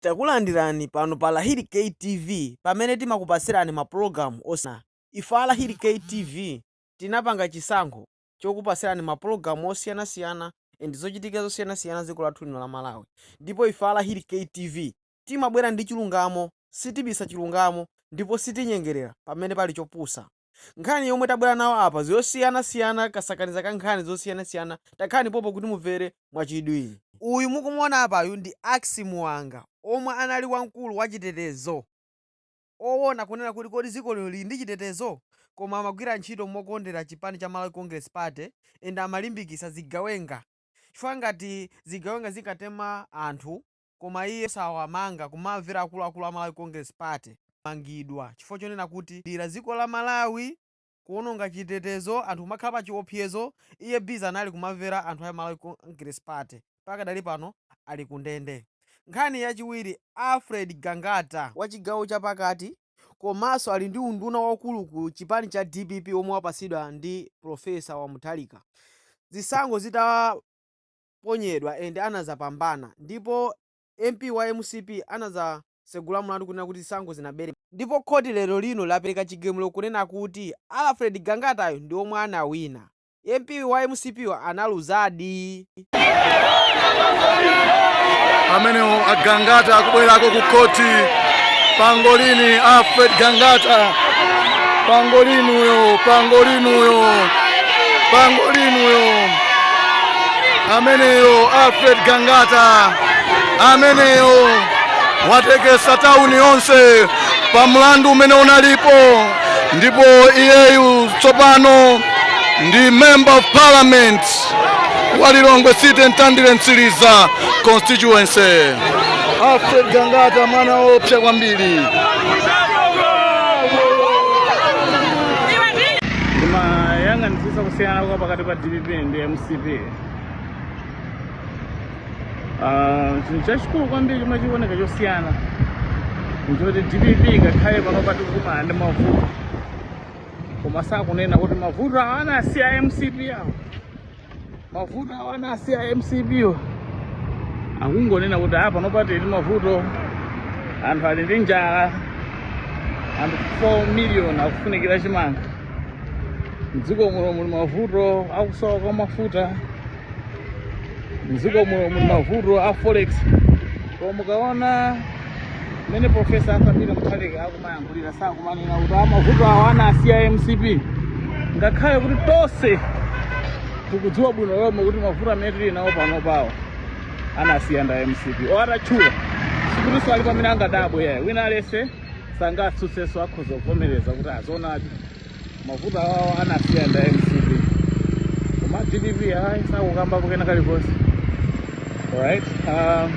Takulandirani pano pa Lahiri K TV pamene timakupatsirani ma program osiyanasiyana. Ife a Lahiri K TV tinapanga chisankho chokupatsirani ma program osiyanasiyana and zochitika zosiyanasiyana dziko lathu lino la Malawi ndipo ife a Lahiri K TV timabwera ndi chilungamo, sitibisa chilungamo ndipo sitinyengerera pamene pali chopusa. Nkhani yomwe tabwera nawo apa zosiyanasiyana kasakaniza ka nkhani zosiyanasiyana takhalani pompo kuti muvere mwachidwi. Uyu mukumuona apayu ndi Axy Muwanga omwe anali wamkulu wa chitetezo owona kunena kuti kodi ziko lino lili ndi chitetezo koma amagwira ntchito mokondera chipani cha Malawi Congress Party and amalimbikisa zigawenga chifukwa ngati zigawenga zikatema anthu koma iye osawamanga kumamvera akuluakulu a Malawi Congress Party wamangidwa chifukwa chonena kuti kulira dziko la Malawi, kuononga chitetezo, anthu kumakhala pa chiopsezo, iye busy anali kumamvera anthu a Malawi Congress Party, pakadali pano ali ku ndende. Nkhani yachiwiri, Alfred Gangata, wa chigawo cha pakati komanso ali ndi unduna waukulu ku chipani cha dpp omwe wapatsidwa ndi Prof. wa Mutharika zisankho zita. anaponyedwa and anazapambana ndipo MP wa mcp anazasegula mulandu kunena kuti zisankho zinabeledwa ndipo khoti lero lino lapeleka chigamulo kunena kuti Alfred Gangatayo ndi omwe anawina MP wa mcp yo analuzadi. Amenewo a Gangata akubwerako ku khoti pangolini Alfred Gangata pangolini uyo pangolini uyo pangolini uyo ameneyo Alfred Gangata ameneyo watekesa tauni yonse pa mlandu umene unalipo, ndipo iyeyu tsopano ndi member of parliament wa Lilongwe City Mtandire Mtsiliza constituency. Alfred Gangata mwana woopsa kwambiri. ndimayang'anitsitsa kusiyana kwa pakati pa dpp ndi mcp Ah, chinthu chachikulu kwambiri chomwe chikuoneka chosiyana nchoti dpp ngakhale pano tikukumana ndi mavuto koma sakunena kuti mavuto awa anasiya a mcp awo mavuto awa anasiya a mcp wo akungonena kuti a pano pali ndi mavuto anthu ali ndi njala anthu 4 million akufunikira chimanga mdziko muno muli mavuto akusowa kwa mafuta mdziko muno muli mavuto a forex koma mukaona mmene profesa arthur peter mutharika akumayankhulira sakumanena kuti a mavuto awo anaasiya mcp ngakhale kuti tonse tikudziwa bwino lomwe kuti mavuto amene tili nawo pano pawo anasiya ndi a mcp oti atatchula sikuti alipo amene angadabwe yayi wina aliyense sangatsutsenso akhoza kuvomereza kuti a zoonadi mavuto awawo anasiya ndi a mcp koma dpp ayi sakukambapo kena kalikonse alright um,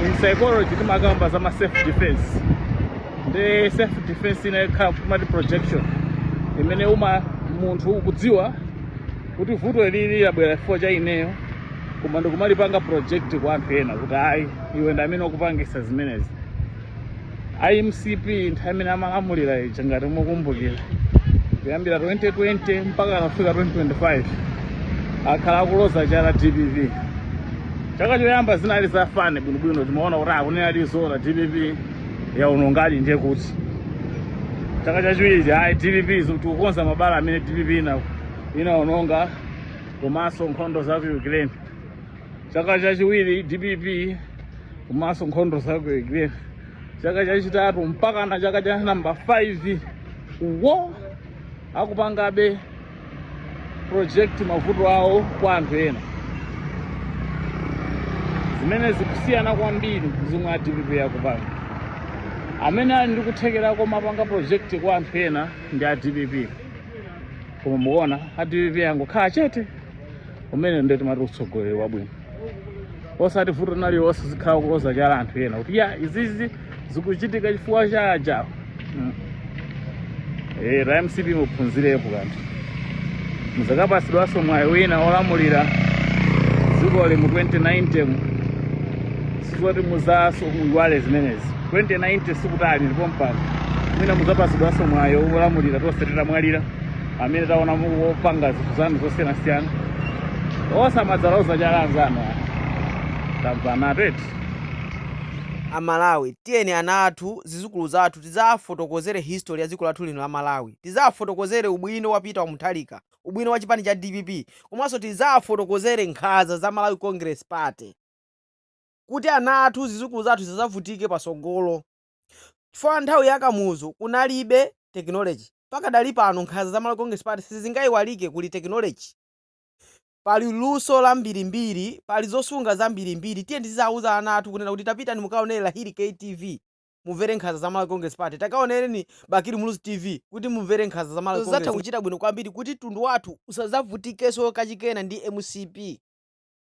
in psychology timakamba za ma self defense ndi self defense ina yake timati projection imene uma munthu ukudziwa kuti vuto ilili labwera chifukwa cha ineyo koma ndikumalipanga project kwa anthu ena kuti ayi iwe ndi amene ukupangisa zimenezi a mcp nthawi imene amalamulira ija ngati mukumbukira kuyambira 2020 mpaka kufika 2025 akhala akuloza chala dpp chaka choyamba zinali za fine bwinobwino timaona kuti akunena zoona dpp yaonongadi ndiye kuti chaka chachiwiri ayi dpp tikukonza mabala amene dpp ina inaononga komanso nkhondo za ku ukraine chaka chachiwiri dpp komanso nkhondo za ku ukraine chaka chachitatu mpaka na chaka cha namba 5 iwo akupangabe project mavuto awo kwa anthu ena zimene zikusiyana kwambiri ndi zomwe a dpp akupanga amene ali ndi kuthekera komapanga project kwa anthu ena ndi a dpp koma mukuona a dpp angokhala chete umenewo nde timati utsogoleri wabwino osati vuto lina lililonse nzikhala kuloza chala anthu ena kuti ya izizi zikuchitika chifukwa cha ujawo mm. e, a mcp muphunzirepo kanthu muzakapasidwanso mwayi wina olamulira dzikoli mu 2090 mu izo zoti muzawinaso muyiwale zimenezi 2090 sikutali ndipo mpamene mwina muzapasidwanso mwayi olamulira tonse titamwalira amene taona mukupanga zinthu zanu zosiyanasiyana osamadzaloza chala anzanu tamvanatu eti amalawi tiyeni ana athu zizukulu zathu tidzafotokozere history ya dziko lathu lino la malawi tidzafotokozere ubwino wa peter mutharika ubwino wa chipani cha dpp komanso tidzafotokozere nkhanza za malawi congress party kuti ana athu zizukulu zathu zisazavutike pasogolo chifukwa nthawi ya Kamuzu kunalibe technology. Mpaka dali pano nkhanza za Malawi Congress Party sizingaiwalike kuli technology. Pali luso lambirimbiri, pali zosunga zambirimbiri. Tiyeni tizauza ana athu kunena kuti tapitani mukaonere Lahiri KTV mumvere nkhanza za Malawi Congress Party. Takaonereni Bakili Muluzi TV kuti mumvere nkhanza za Malawi Congress. Zatha kuchita bwino kwambiri kuti mtundu wathu usadzavutikeso kachikena ndi MCP.